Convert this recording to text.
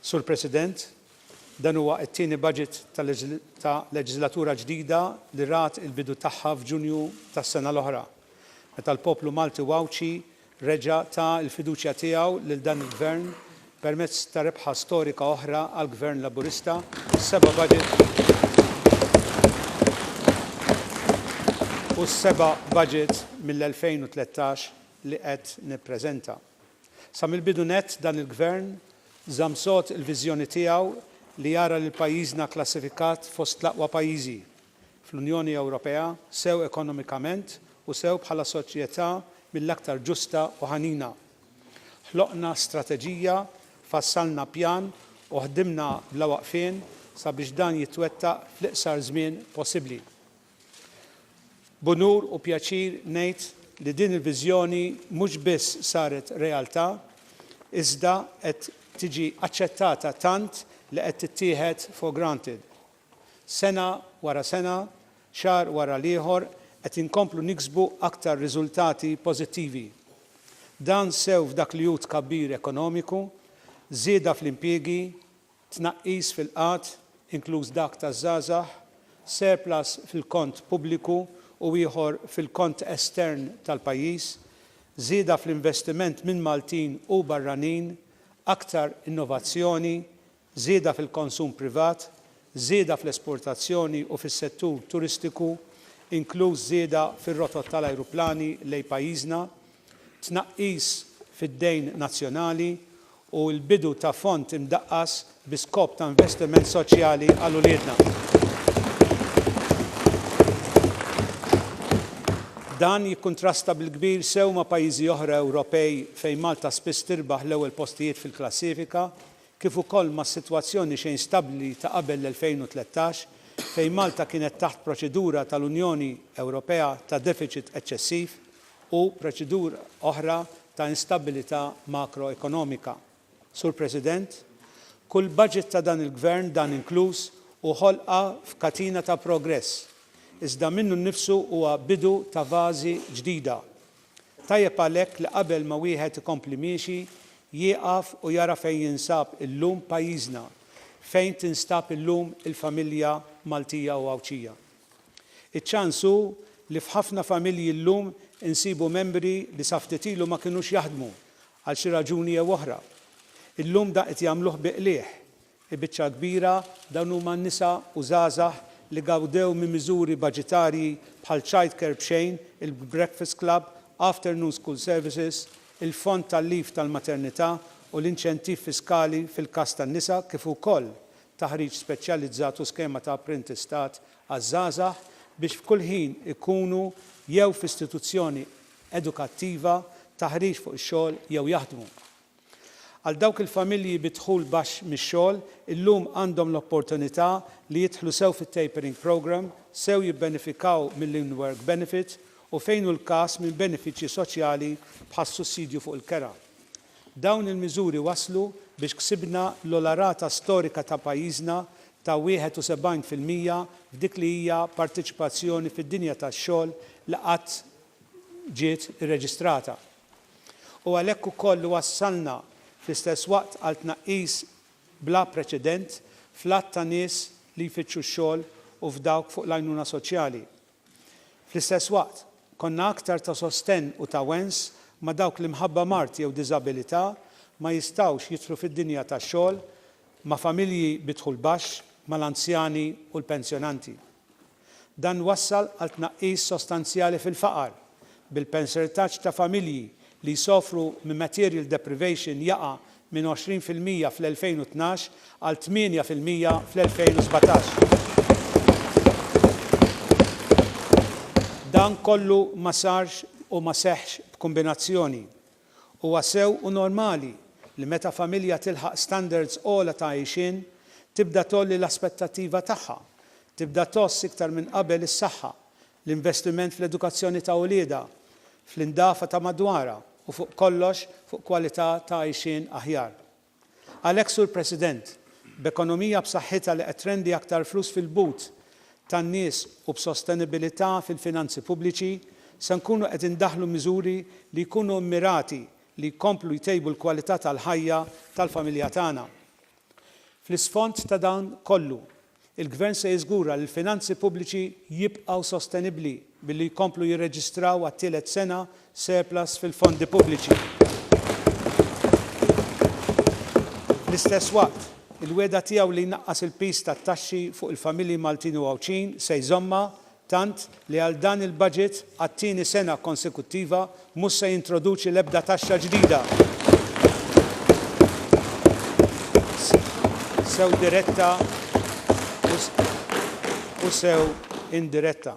Sur President, dan huwa t-tieni budget ta' leġislatura ġdida li rat il-bidu tagħha f'Ġunju tas-sena l-oħra, meta l-poplu Malti u Għawdxi reġa' ta l-fiduċja tiegħu lil dan il-Gvern permezz ta' rebħa storika oħra għall-Gvern Laburista, s-seba' budget u s-seba' budget mill-2013 li qed nippreżenta. Sa mill-bidu nett dan il-Gvern żamm sod il-viżjoni tiegħu li jara lil pajjiżna kklassifikat fost l-aqwa pajjiżi, fl-Unjoni Ewropea sew ekonomikament u sew bħala soċjetà mill-aktar ġusta u ħanina. Ħloqna strateġija, fassalna pjan u ħdimna bla waqfien sabiex dan jitwettaq fl-iqsar żmien possibbli. B'unur u pjaċir ngħid li din il-viżjoni mhux biss saret realtà iżda qed tiġi aċċettata tant li qed tittieħed for granted. Sena wara sena, xahar wara l-ieħor qed inkomplu niksbu aktar riżultati pożittivi. Dan sew f'dak li hu tkabbir ekonomiku, żieda fl-impjiegi, tnaqqis fil-qgħad, inkluż dak taż-żgħażagħ, surplus fil-kont pubbliku u ieħor fil-kont estern tal-pajjiż, żieda fl-investiment minn Maltin u barranin, aktar innovazzjoni, żieda fil-konsum privat, żieda fl-esportazzjoni u fis-settur turistiku, inkluż żieda fir-rotot tal-ajruplani lejn pajjiżna, tnaqqis fid-dejn nazzjonali u l-bidu ta' fond imdaqqas bi skop ta' investiment soċjali għal uliedna. Dan jikkuntrasta bil-kbir sew ma' pajjiżi oħra Ewropej fejn Malta spiss tirbaħ l-ewwel postijiet fil-klassifika kif ukoll mas-sitwazzjoni xejn stabbli ta' qabel l-2013, fejn Malta kienet taħt proċedura tal-Unjoni Ewropea ta' defiċit eċċessiv u proċedura oħra ta' instabbilità makroekonomika. Sur President, kull budget ta' dan il-Gvern, dan inkluż, hu ħolqa f'katina ta' progress, iżda minnu nnifsu huwa bidu ta' fażi ġdida. Tajjeb għalhekk li qabel ma wieħed ikompli miexi, jieqaf u jara fejn jinsab illum pajjiżna, fejn tinstab illum il-familja Maltija u Għawdxija. Iċ-ċans hu li f'ħafna familji llum insibu membri li sa ftit ilu ma kinux jaħdmu għal xi raġuni jew oħra. Illum dan qed jagħmluh bi qligħ. Il-biċċa l-kbira dawn huma nisa u żgħażagħ li gawdew minn miżuri baġitarji bħal childcare b'xejn, il-breakfast club, afternoon school services, il-fond tal-leave tal-maternità u l-inċentiv fiskali fil-każ tan-nisa kif ukoll taħriġ speċjalizzat u skema ta' apprentistat għaż-żgħażagħ biex f'kull ħin ikunu jew f'istituzzjoni edukattiva, taħriġ fuq ix-xogħol jew jaħdmu. Għal dawk il-familji bi dħul baxx mix-xogħol, illum għandhom l-opportunità li jidħlu sew fit-Tapering Programme, sew jibbenefikaw mill-In-Work Benefit u fejn hu l-każ minn benefiċċji soċjali bħas-sussidju fuq il-kera. Dawn il-miżuri wasslu biex ksibna l-ogħla rata storika ta' pajjiżna ta' 71 fil-mija f'dik li hija parteċipazzjoni fid-dinja tax-xogħol li qatt ġiet irreġistrata. u għalhekk ukoll iwassalna fl-istess waqt għal tnaqqis bla preċedent fl-għadd ta' nies li jfittxu x-xogħol u f'dawk fuq l-għajnuna soċjali. Fl-istess waqt, konna aktar ta' sostenn u ta' wens ma' dawk li mħabba mard jew diżabilità ma jistgħux jidħlu fid-dinja tax-xogħol, ma' familji bi dħul baxx, mal-anzjani u l-pensjonanti. Dan wassal għal tnaqqis sostanzjali fil-faqar, bil-pensiltaġġ ta' familji li jsofru minn material deprivation jaqa' minn 20 fil-mija fl-2012 għal 8 fil-mija fl-2017. Dan kollu ma sarx u ma seħħx b'kumbinazzjoni. Huwa sew u normali li meta familja tilħaq standards ogħla ta' għixien, tibda tgħolli l-aspettattiva tagħha, tibda tgħożż iktar minn qabel is-saħħa, l-investiment fl-edukazzjoni ta' uliedha, fl-indafa ta' madwarha u fuq kollox fuq kwalità ta' għixien aħjar. Għalhekk, Sur President, b'ekonomija b'saħħitha li qed trendi aktar flus fil-but tan-nies u b'sostenibilità fil-finanzi pubbliċi, se nkunu qed indaħħlu miżuri li jkunu mmirati li jkomplu jtejbu l-kwalità tal-ħajja tal-familja tagħna. Fl-isfond ta' dan kollu, Il-Gvern se jiżgura li l-finanzi pubbliċi jibqgħu sostenibbli billi jkomplu jirreġistraw għat-tielet sena surplus fil-fondi pubbliċi. Fl-istess waqt, il-wegħda tiegħu li jnaqqas il-piż tat-taxxi fuq il-familji Maltin u Għawdxin se jżommha tant li għal dan il-budget, għat-tieni sena konsekuttiva, mhux se jintroduċi l-ebda taxxa ġdida, sew diretta u sew indiretta.